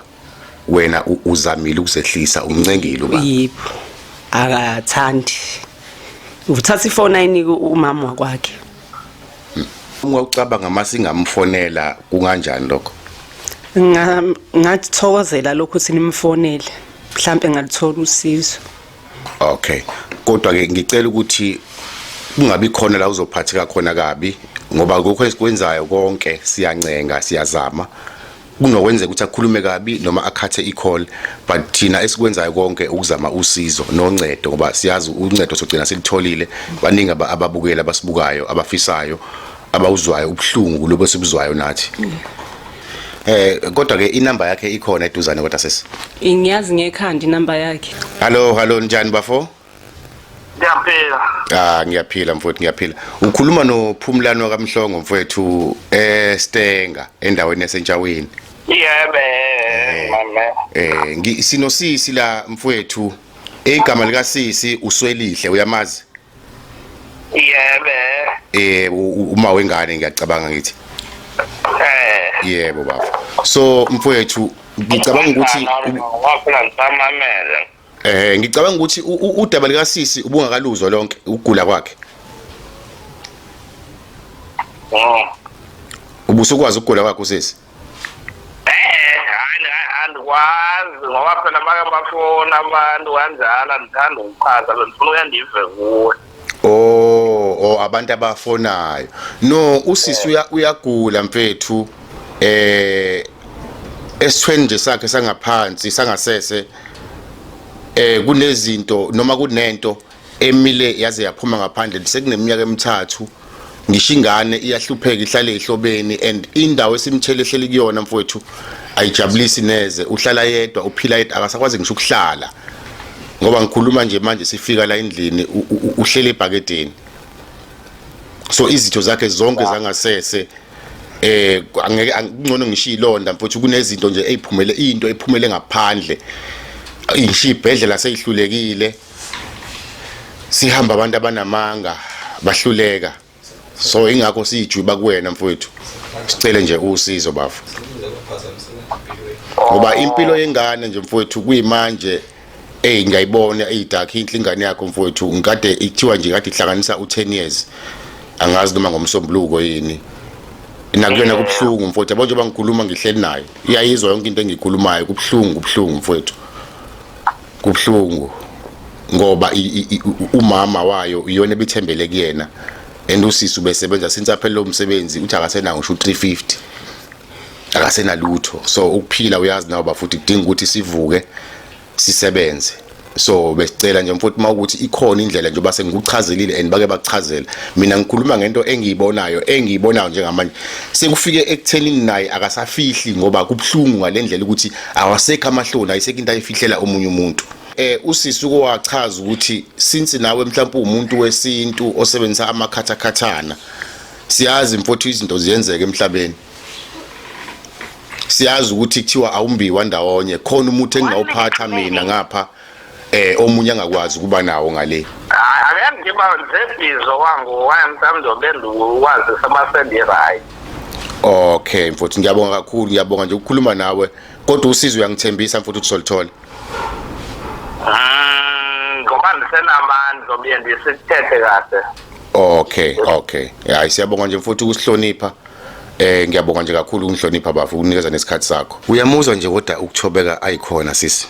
[SPEAKER 2] wena u- uzamile ukuzehlisa umncengile uba yebo
[SPEAKER 1] akathandi uthatha ifoni ayinike umama wakwakhe
[SPEAKER 2] uma ucabanga uma singamfonela kunganjani lokho Nga-
[SPEAKER 1] ngathokozela lokho ukuthi nimfonele mhlampe ngalithola usizo okay
[SPEAKER 2] kodwa ke ngicela ukuthi kungabi khona la uzophatheka khona kabi ngoba lokho esikwenzayo konke siyancenga siyazama kunokwenzeka ukuthi akhulume kabi noma akhathe i-call but thina esikwenzayo konke ukuzama usizo noncedo ngoba siyazi uncedo sogcina silitholile baningi ababukeli abasibukayo abafisayo abawuzwayo ubuhlungu lobo sibuzwayo nathi Eh kodwa ke inamba yakhe ikhona eduzane kodwa sesi. Ngiyazi ngekhanda
[SPEAKER 1] inamba yakhe. Hallo, hallo njani
[SPEAKER 2] bafo? Ngiyaphila.
[SPEAKER 4] Ah ngiyaphila mfowethu ngiyaphila.
[SPEAKER 2] Ukhuluma noPhumlani wakamhlongo mfowethu eh Stenga endaweni yaseNtshaweni. Yebe eh, mama.
[SPEAKER 4] Eh ngi sinosisi la
[SPEAKER 2] mfowethu igama lika sisi uswelihle uyamazi? Yebe.
[SPEAKER 4] Eh uma wengane
[SPEAKER 2] ngiyacabanga ngithi. Eh. Yebo baba. So mfowethu ngicabanga ukuthi wakhona
[SPEAKER 4] ngisamamele. Eh ngicabanga
[SPEAKER 2] ukuthi udaba lika sisi ubungakaluzwa lonke ukugula kwakhe. Oh. Ubusukwazi ukugula kwakhe usisi. Eh hayi
[SPEAKER 4] andikwazi ngoba phela make bafona abantu kanjalo andithanda ukuchaza bendifuna uyandive kuwe. Oh,
[SPEAKER 2] oh abantu abafonayo. No, usisi uya uyagula mfethu. Eh esithweni nje sakhe sangaphansi sangasese eh kunezinto noma kunento emile yaze yaphuma ngaphandle sekuneminyaka emithathu ngisho ingane iyahlupheka ihlale ehlobeni and indawo esimthele ehleli kuyona mfowethu ayijabulisi neze uhlala yedwa uphila yedwa akasakwazi ngisho ukuhlala ngoba ngikhuluma nje manje sifika la endlini uhlele ebhakedeni so izitho zakhe zonke zangasese eh angeke angcono ngisho ilonda mfowethu kunezinto nje eziphumele into ephumele ngaphandle ingisho ibhedlela seyihlulekile sihamba abantu abanamanga bahluleka so ingakho siyijuba kuwena mfowethu sicele nje usizo bafo ngoba impilo yengane nje mfowethu kuyimanje eyi ngiyayibona eyidakhi inhle ingane yakho mfowethu ngikade ikuthiwa nje kade ihlanganisa u-10 years angazi noma ngomsombuluko yini nakuyona kubuhlungu mfowethu yabo njengoba ngikhuluma ngihleli nayo iyayizwa yonke into engiyikhulumayo kubuhlungu kubuhlungu mfowethu Kubhlungu ngoba umama wayo iyona ebithembele kuyena and usisi ubesebenza since aphele lo msebenzi uthi akasenawo ngisho 350 akasenalutho so ukuphila uyazi nawo bafuthi kudinga ukuthi sivuke sisebenze so besicela nje mfowethu mawukuthi ikhona indlela nje base ngikuchazilile and bake bakuchazela mina ngikhuluma ngento engiyibonayo engiyibonayo njengamanje sekufike ekutheni naye akasafihli ngoba kubhlungu ngalendlela ukuthi awasekho amahloni ayisekho into ayifihlela omunye umuntu eh usisi ukowachaza ukuthi since nawe mhlawumbe umuntu wesintu osebenzisa amakhathakhathana siyazi mfowethu izinto ziyenzeka emhlabeni siyazi ukuthi kuthiwa awumbiwa ndawonye khona umuthi engingawuphatha mina ngapha eh omunye angakwazi ukuba nawo ngale hayi ngiba
[SPEAKER 4] nzebhizo wangu waya mthamdo bendu wazi sabasendi right Okay
[SPEAKER 2] mfowethu ngiyabonga kakhulu ngiyabonga nje ukukhuluma nawe kodwa usizo uyangithembisa mfowethu ukuthi solithola
[SPEAKER 4] mm, ngoba ndisenamandla obuye ndisithethe kahle okay
[SPEAKER 2] okay hayi siyabonga nje mfowethu ukusihlonipha Eh ngiyabonga nje kakhulu ukungihlonipha bafo ukunikeza nesikhathi sakho. Uyamuzwa nje kodwa ukuthobeka ayikhona sisi.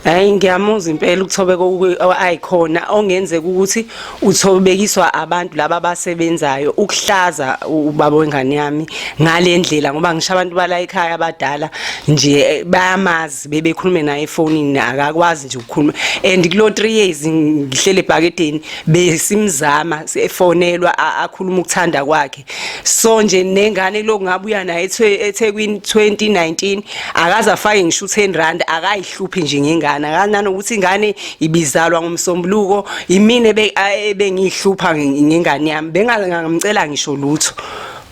[SPEAKER 2] Hayi
[SPEAKER 1] ngiyamuza impela ukuthobeka ayikhona ongenzeka ukuthi uthobekiswa abantu laba abasebenzayo ukuhlaza ubaba wengane yami ngalendlela ngoba ngisho abantu bala ekhaya abadala nje eh, bayamazi bebekhulume naye efonini akakwazi nje ukukhuluma and kulo 3 years ngihlele ebhakedeni besimzama efonelwa akhuluma ukuthanda kwakhe so nje nengane lokhu ngabuya naye eThekwini 2019 akaza fake ngisho 10 rand akayihluphi nje ngengane akanani ukuthi ingane ibizalwa ngomsombuluko imina ebengihlupha ngengane yami bengangamcela ngisho lutho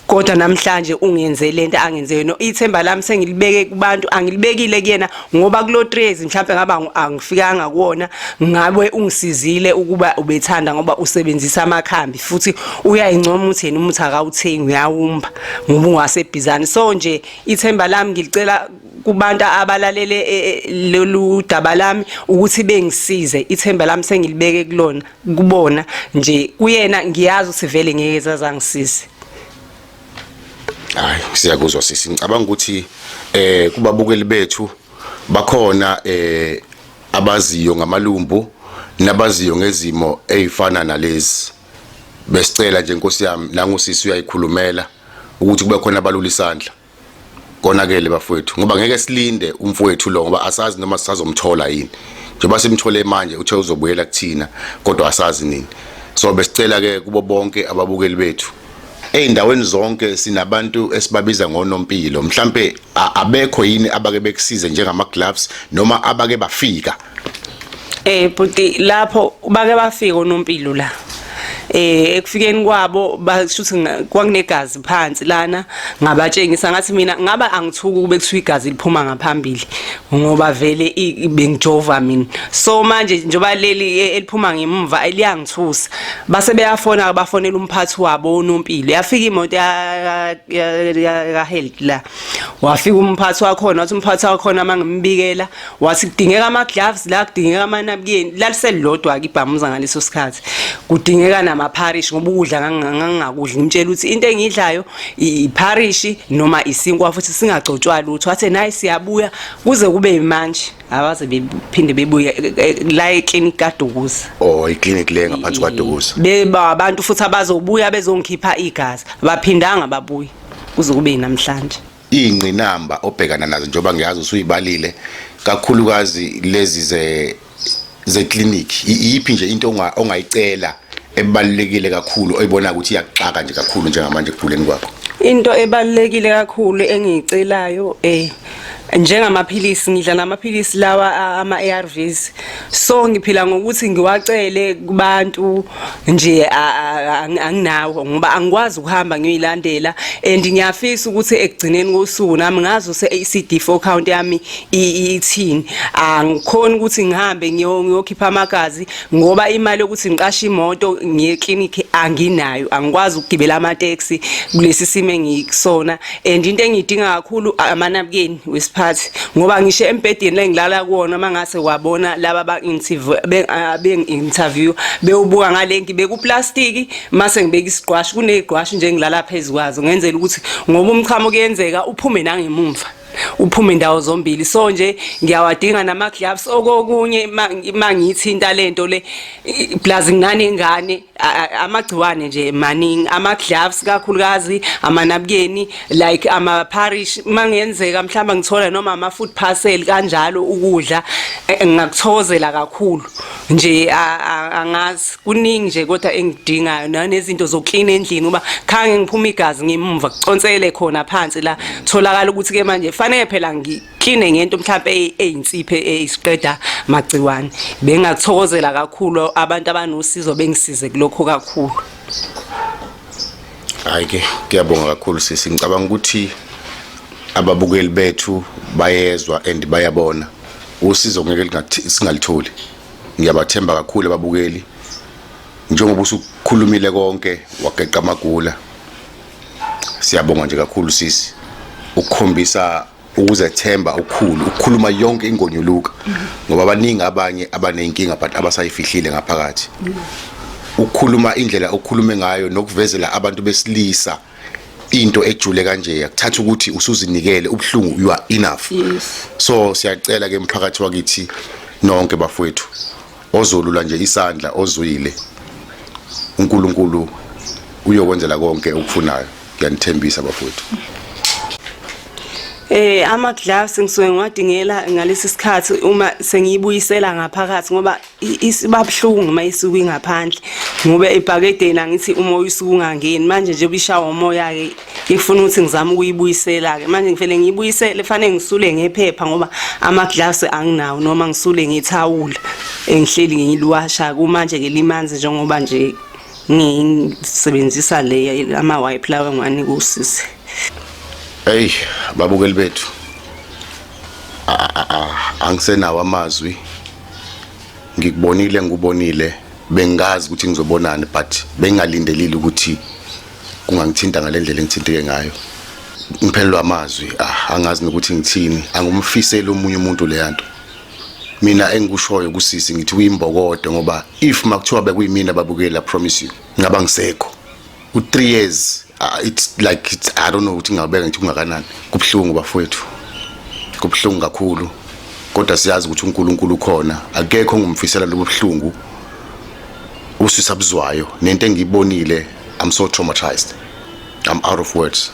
[SPEAKER 1] kodwa namhlanje ungenze lento angenze yona ithemba lami sengilibeke kubantu angilibekile kuyena ngoba kulo 3 years mhlawumbe ngaba angifikanga kuwona ngabe ungisizile ukuba ubethanda ngoba usebenzisa amakhambi futhi uyayincoma uthi yena umuthi akawuthengi uyawumba ngoba ungasebhizani so nje ithemba lami ngilicela kubantu abalalele e, e, lolu daba lami ukuthi bengisize ithemba lami sengilibeke kulona kubona nje kuyena ngiyazi ukuthi vele ngeke zazangisize
[SPEAKER 2] hayi siyakuzwa sisi ngicabanga ukuthi eh kubabukeli bethu bakhona eh abaziyo ngamalumbu nabaziyo ngezimo ezifana nalezi besicela nje nkosi yami nangu sisi uyayikhulumela ukuthi kube khona abalula isandla konakele bafowethu ngoba ngeke silinde umfowethu lo ngoba asazi noma sisazomthola yini njengoba simthole manje uthe uzobuyela kuthina kodwa asazi nini so besicela ke kubo bonke ababukeli bethu ezindaweni zonke sinabantu esibabiza ngonompilo mhlambe abekho yini abake bekusize njengama gloves noma abake bafika Eh
[SPEAKER 1] bhuti lapho bake bafika onompilo la. eh ekufikeni kwabo bashuthi kwakunegazi phansi lana ngabatshengisa ngathi mina ngaba angithuki kube kuthiwa igazi liphuma ngaphambili ngoba vele bengijova mina so manje njoba leli e, eliphuma ngemva eliyangithusa base beyafona bafonela umphathi wabo unompilo yafika imoto ya ka health la wafika umphathi wakhona wathi umphathi wakhona mangimbikela wasi kudingeka ama gloves la kudingeka ama napkin laliselilodwa ke ibhamuza ngaleso sikhathi kudingeka nama parish ngoba ukudla ngangingakudli ngimtshela ukuthi into engidlayo i parish noma isinkwa futhi singagcotshwa lutho athe nayi siyabuya kuze kube manje abaze bephinde bebuye e, e, e, la eclinic kaDukuza oh iclinic le
[SPEAKER 2] ngaphansi kwaDukuza beba abantu futhi
[SPEAKER 1] abazobuya bezongikhipha igazi baphindanga babuye kuze kube namhlanje iy'ngqinamba
[SPEAKER 2] obhekana nazo njengoba ngiyazi usuyibalile kakhulukazi lezi zeklinikhi iyiphi nje into ongayicela ebalulekile kakhulu oyibona ukuthi iyakuxaka nje kakhulu njengamanje ekuguleni kwakho into ebalulekile
[SPEAKER 1] kakhulu engiyicelayo eh njengamaphilisi ngidla namaphilisi lawa ama-ARVs so ngiphila ngokuthi ngiwacele kubantu nje anginawo ngoba angikwazi ukuhamba ngiyilandela and ngiyafisa ukuthi ekugcineni kosuku nami ngazi use CD4 count yami ithini angikhona ukuthi ngihambe ngiyokhipha amagazi ngoba imali yokuthi ngiqashe imoto ngiye clinic anginayo angikwazi ukugibela ama taxi kulesi simo engikusona and into engiyidinga kakhulu amanabukeni wesiphathi ngoba ngisho embhedeni lengilala kuwona uma ngase wabona laba abangi-interview ah, bewubuka ngalenki bekuplastiki mase ngibeka isigqwashi kuney'gqwashi nje ngilala phezu kwazo ngenzela ukuthi ngoba umchamo kuyenzeka uphume nangemumva uphume ndawo zombili so nje ngiyawadinga nama gloves okokunye mangithinta lento le plus nginane ngane amagciwane nje maningi ama gloves kakhulukazi amanabukeni like ama parish mangenzeka mhlamba ngithola noma ama food parcel kanjalo ukudla e, e, ngakuthokozela kakhulu nje angazi kuningi nje kodwa engidingayo nanezinto zoklina endlini uba khange ngiphuma igazi ngimva kuconsele khona phansi la tholakala ukuthi ke manje fanele phela ngi clean ngento mhlawumbe eyinsiphe eyisiqeda magciwane bengakuthokozela kakhulu abantu abanosizo bengisize kulokho kakhulu
[SPEAKER 2] hayi ke kuyabonga kakhulu sisi ngicabanga ukuthi ababukeli bethu bayezwa and bayabona usizo ngeke singalitholi ngiyabathemba kakhulu ababukeli njengoba usukhulumile konke wageqa amagula siyabonga nje kakhulu sisi ukukhombisa ukuzethemba okukhulu ukukhuluma yonke ingonyuluka ngoba abaningi abanye abanenkinga but abasayifihlile ngaphakathi ukukhuluma indlela okukhulume ngayo nokuvezela abantu besilisa into ejule kanje yakuthatha ukuthi usuzinikele ubuhlungu you are enough yes. so siyacela ke mphakathi wakithi nonke bafowethu Ozolula nje isandla ozwile uNkulunkulu uyokwenzela konke okufunayo ngiyanithembisa bafowethu
[SPEAKER 1] Eh ama gloves ngisuke ngiwadingela ngalesi sikhathi uma sengiyibuyisela ngaphakathi ngoba isibabhlungu uma isuka ingaphandle ngoba ebhakedeni angithi umoya usuke ungangeni manje nje bishawa umoya ke ngifuna ukuthi ngizame ukuyibuyisela-ke manje ngifele ngiyibuyisele fanele ngisule ngephepha ngoba ama-gloves anginawo noma ngisule ngethawula engihleli ngiliwasha kumanje-ke limanzi njengoba nje ngisebenzisa le ama-wipe lawa ngani kusisi
[SPEAKER 2] eyi babukeli bethu angisenawo amazwi ngikubonile ngikubonile bengazi ukuthi ngizobonani but bengingalindelile ukuthi kungangithinta ngalendlela engithinteke ngayo ngiphelelwa amazwi ah angazi nokuthi ngithini angumfiseli omunye umuntu leyanto mina engikushoyo kusisi ngithi uyimbokodo ngoba if makuthiwa bekuyimina babukela promise you ngaba ngisekho u 3 years uh, it's like it's, i don't know ukuthi ngingabeka ngithi kungakanani kubhlungu bafowethu kubhlungu kakhulu kodwa siyazi ukuthi uNkulunkulu ukhona akekho ngumfisela lobuhlungu usisabuzwayo nento engiyibonile I'm so traumatized. I'm out of words.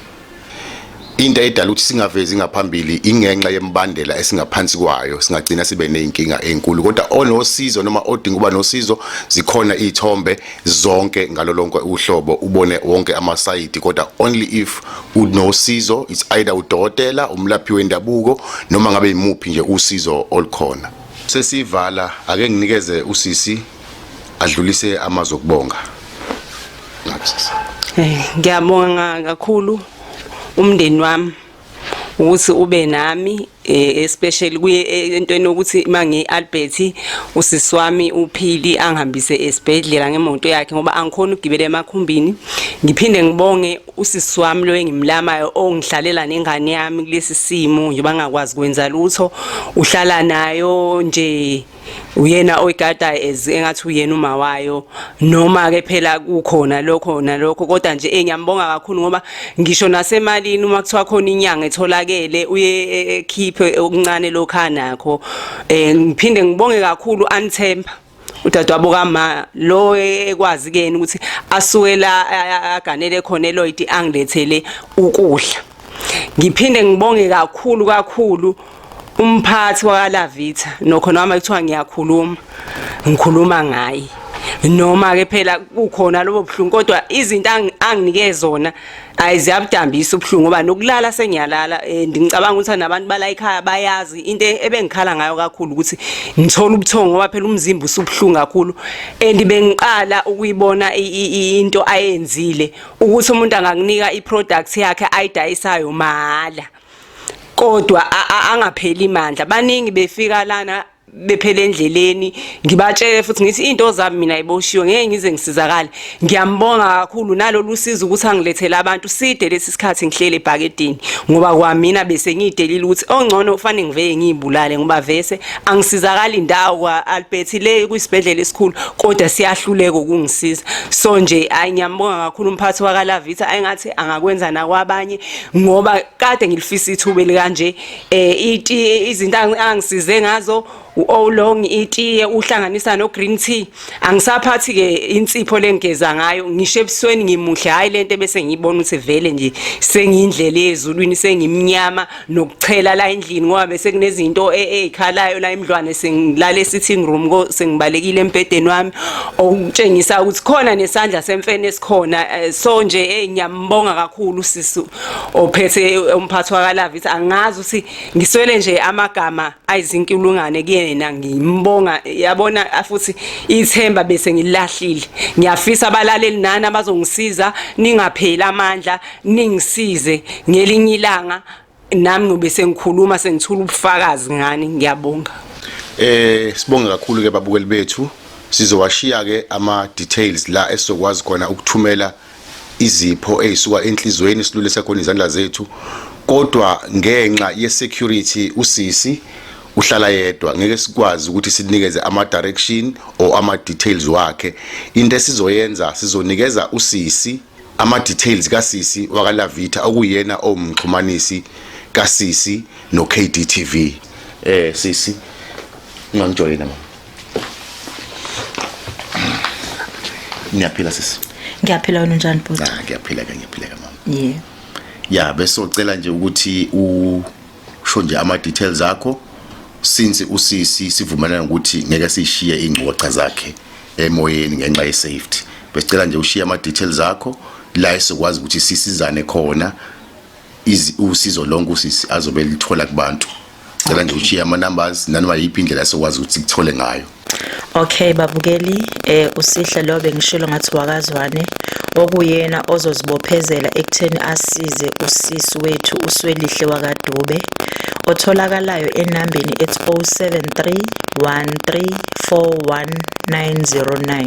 [SPEAKER 2] Into edala ukuthi singavezi ngaphambili ingenxa yembandela esingaphansi kwayo singagcina sibe nezinkinga ezinkulu kodwa onosizo noma odinga uba nosizo zikhona izithombe zonke ngalolonke uhlobo ubone wonke amasayidi kodwa only if unosizo it's either udokotela umlaphi wendabuko noma ngabe imuphi nje usizo olukhona sesivala ake nginikeze usisi adlulise amazwi okubonga
[SPEAKER 1] eh, ngiyabonga kakhulu umndeni wami ukuthi ube nami eh, especially kuye eh, entweni yokuthi mangi Albert usisi wami uphili angihambise esibhedlela ngemoto yakhe ngoba angikhona ukugibela emakhumbini ngiphinde ngibonge usisi wami lo engimlamayo ongihlalela nengane yami kulesi simo nje bangakwazi kwenza lutho uhlala nayo nje uyena oyigadayo as engathi uyena uma wayo noma ke phela kukhona lokho nalokho kodwa nje engiyambonga kakhulu ngoba ngisho nasemalini uma kuthiwa khona inyanga etholakele uye e, e, ekhiphe okuncane lokha nakho eh ngiphinde ngibonge kakhulu anthemba udadewabo kama lo ekwazi kuyena ukuthi asuke la aganele khona eLoyd angilethele ukudla ngiphinde ngibonge kakhulu kakhulu umphathi wakalavitha nokho noma kuthiwa ngiyakhuluma ngikhuluma ngaye noma ke phela kukhona lobo buhlungu kodwa izinto anginike zona ayiziyabudambisa ubuhlungu ngoba nokulala sengiyalala eh, ngicabanga ukuthi nabantu bala ekhaya bayazi into ebengikhala ngayo kakhulu ukuthi ngithola ubuthongo ngoba phela umzimba usubuhlungu kakhulu and bengiqala ukuyibona into ayenzile ukuthi umuntu angakunika iproduct yakhe ayidayisayo mahala kodwa angapheli imandla baningi befika lana bephele endleleni ngibatshele futhi ngithi into zami mina iboshiwe ngeke ngize ngisizakale ngiyambonga kakhulu nalolu sizo ukuthi angilethele abantu side lesi sikhathi ngihlele ebhakedini ngoba kwamina bese ngiyidelile ukuthi ongcono ufanele ngiveye ngiyibulale ngoba vese angisizakali ndawo kwa Albert le kwisibhedlela esikhulu kodwa siyahluleka ukungisiza so nje ayingiyambonga kakhulu umphathi wakalavitha ayingathi angakwenza nakwabanye ngoba kade ngilifisa ithuba elikanje eh iti izinto angisize ngazo uolong itiye uhlanganisa no green tea angisaphathi ke insipho lengigeza ngayo ngisho ebusweni ngimuhle hayi lento bese ngiyibona ukuthi vele nje sengiyindlela yezulwini sengimnyama nokuchela la endlini ngoba bese kunezinto ezikhalayo e, la emdlwane sengilale sitting room ko sengibalekile embedeni wami okutshengisa ukuthi khona nesandla semfene esikhona eh, so nje enyama eh, Ngibonga kakhulu sisi ophethe umphathi wakalavithi angazi ukuthi ngiswele nje amagama ayizinkulungane kuyena ngimbonga yabona futhi ithemba bese ngilahlile ngiyafisa abalaleli nani abazongisiza ningapheli amandla ningisize ngelinye ilanga nami ngobe sengikhuluma sengithula ubufakazi ngani ngiyabonga eh
[SPEAKER 2] sibonge kakhulu ke babukeli bethu sizowashiya ke ama details la esizokwazi khona ukuthumela izipho ezisuka enhlizweni silule sekhona izandla zethu kodwa ngenxa ye security usisi uhlala yedwa ngeke sikwazi ukuthi sinikeze ama direction or ama details wakhe into esizoyenza sizonikeza usisi ama-details kasisi wakalavitha okuyena owumxhumanisi kasisi no-kdtv eh sisi ungangijoyina mama ngiyaphila sisi ngiyaphila wena unjani
[SPEAKER 3] bhuti ah ngiyaphila ke ngiyaphila ke
[SPEAKER 2] mama yeah
[SPEAKER 3] ya
[SPEAKER 2] besocela nje ukuthi u kusho nje ama details akho since usisi sivumelana ukuthi ngeke sishiye ingcoxa zakhe emoyeni ngenxa ye safety besicela nje ushiye ama details akho la esikwazi ukuthi sisizane khona usizo lonke usisi azobe lithola kubantu cela nje ushiye ama numbers nanoma yiphi indlela esikwazi ukuthi sikuthole ngayo Okay
[SPEAKER 3] babukeli eh usihle lo bengishilo ngathi wakazwane okuyena ozozibophezela ekutheni asize usisi wethu uswelihle wakadube otholakalayo enambeni ethi 0731341909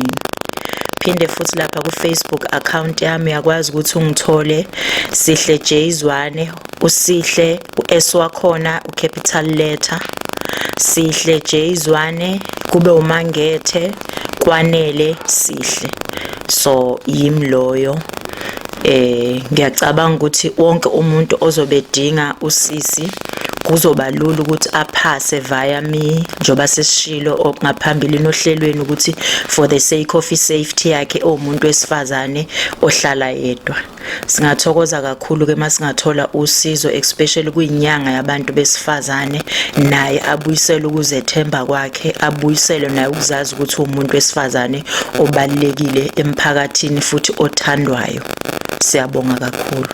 [SPEAKER 3] phinde futhi lapha ku-facebook account yami uyakwazi ukuthi ungithole sihle jzwane usihle u-S wakhona ucapital letter Sihle J Zwane kube uMangethe kwanele Sihle so yimi loyo eh ngiyacabanga ukuthi wonke umuntu ozobe dinga usisi kuzoba lula ukuthi aphase via me njoba sesishilo okungaphambili nohlelweni ukuthi for the sake of safety yakhe omuntu wesifazane ohlala yedwa Singathokoza kakhulu ke masingathola usizo especially kuyinyanga yabantu besifazane naye abuyisele ukuzethemba kwakhe abuyisele naye ukuzazi ukuthi umuntu wesifazane obalekile emphakathini futhi othandwayo siyabonga kakhulu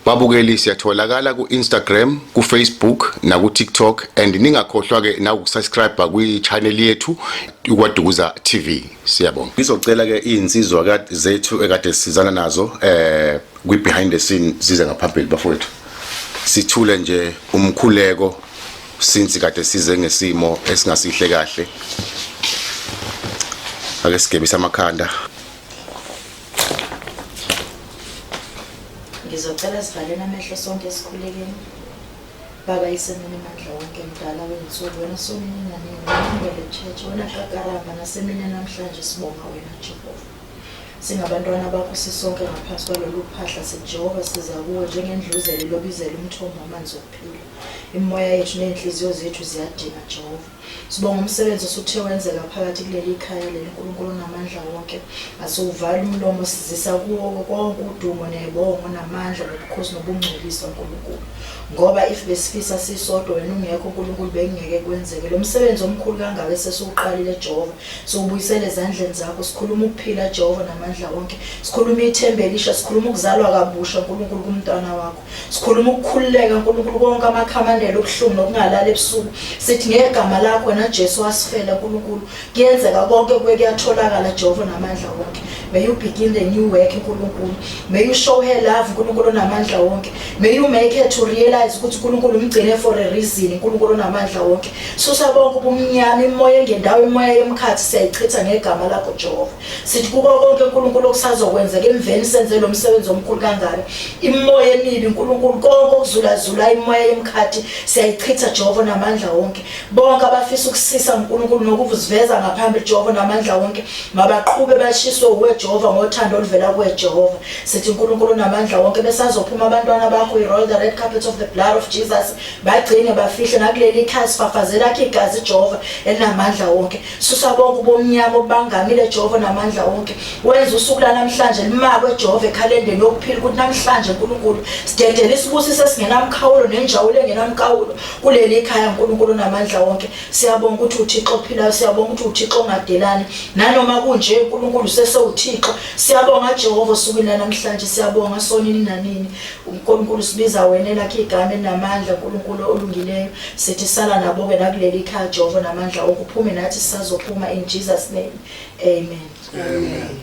[SPEAKER 2] babukeli siyatholakala ku-instagram kufacebook nakutiktok and ningakhohlwa-ke nawukusubscribe kwi-channel yethu ikwadukuza tv Siyabonga. Ngizocela ke izinsizwa kade zethu ekade sizana nazo eh kwi behind the scene size ngaphambili bafowethu. Sithule nje umkhuleko since kade size ngesimo esingasihle kahle. Ake sigebisa amakhanda. Ngizocela sivalele amehlo
[SPEAKER 3] sonke esikhulekeni. Baba isemini mandla wonke mdala wensuku wena somnina nini wena church wena kakaramba nasemini namhlanje sibonga wena Jehova singabantwana bakho sisonke ngaphansi kwalolu phahla sijehova siza kuwe njengendluzele lobizela umthombo wamanzi okuphila imimoya yethu ney'nhliziyo zethu ziyadinga jehova Sibonga umsebenzi osuthe wenzeka phakathi kuleli khaya leli uNkulunkulu onamandla wonke. Asiwuvali umlomo sizisa kuwo konke udumo nebongo namandla nobukhosi nobungcwelisa uNkulunkulu. Ngoba if besifisa sisodwa wena ungekho uNkulunkulu bekungeke kwenzeke. Lo msebenzi omkhulu kangaka esesiwuqalile Jehova. Siwubuyisele ezandleni zakho. Sikhuluma ukuphila Jehova namandla wonke. Sikhuluma ithemba elisha, sikhuluma ukuzalwa kabusha uNkulunkulu kumntwana wakho. sikhuluma ukukhululeka nkulunkulu konke amakhamandela okuhlungu nokungalala ebusuku sithi ngegama lakho wena
[SPEAKER 5] jesu wasifela nkulunkulu kuyenzeka konke kuye kuyatholakala jehova namandla wonke may you begin the new work nkulunkulu may you show her love nkulunkulu onamandla wonke may you make her to realize ukuthi unkulunkulu umgcine for a reason unkulunkulu onamandla wonke susa bonke ubumnyama imoya engendawo imoya yomkhathi siyayichitha ngegama lakho jehova Sithi kuko konke uNkulunkulu okusazokwenzeka emveni senze lo msebenzi omkhulu kangaka. Imoya emibi uNkulunkulu konke okuzulazula imoya yemkhathi siyayichitha Jehova namandla wonke. Bonke abafisa ukusisa uNkulunkulu nokuvuziveza ngaphambili Jehova namandla wonke mabaqhube bashiswe uwe Jehova ngothando oluvela kuwe Jehova. Sithi uNkulunkulu namandla wonke besazophuma abantwana bakho we roll the red carpet of the blood of Jesus bagcine bafihle nakuleli ikhaya sifafazela khe igazi Jehova elinamandla wonke. Susa bonke ubomnyama obangamile Jehova namandla wonke. Wenza usuku lanamhlanje limakwe Jehova ekhalendeni yokuphila ukuthi namhlanje uNkulunkulu sidedele isibusiso esingenamkhawulo nenjawulo engenamkhawulo kuleli ikhaya uNkulunkulu namandla wonke. Siyabonga ukuthi uThixo ophilayo, siyabonga ukuthi uThixo ongadelani. Nanoma kunje uNkulunkulu sesewuThixo. Siyabonga Jehova osukwini lanamhlanje, siyabonga sonini nanini. Nkulunkulu sibiza wena elakhe igama elinamandla Nkulunkulu olungileyo sithi sala nabo-ke nakuleli khaya Jehova namandla okuphume nathi sisazophuma in Jesus
[SPEAKER 1] name
[SPEAKER 5] amen, amen.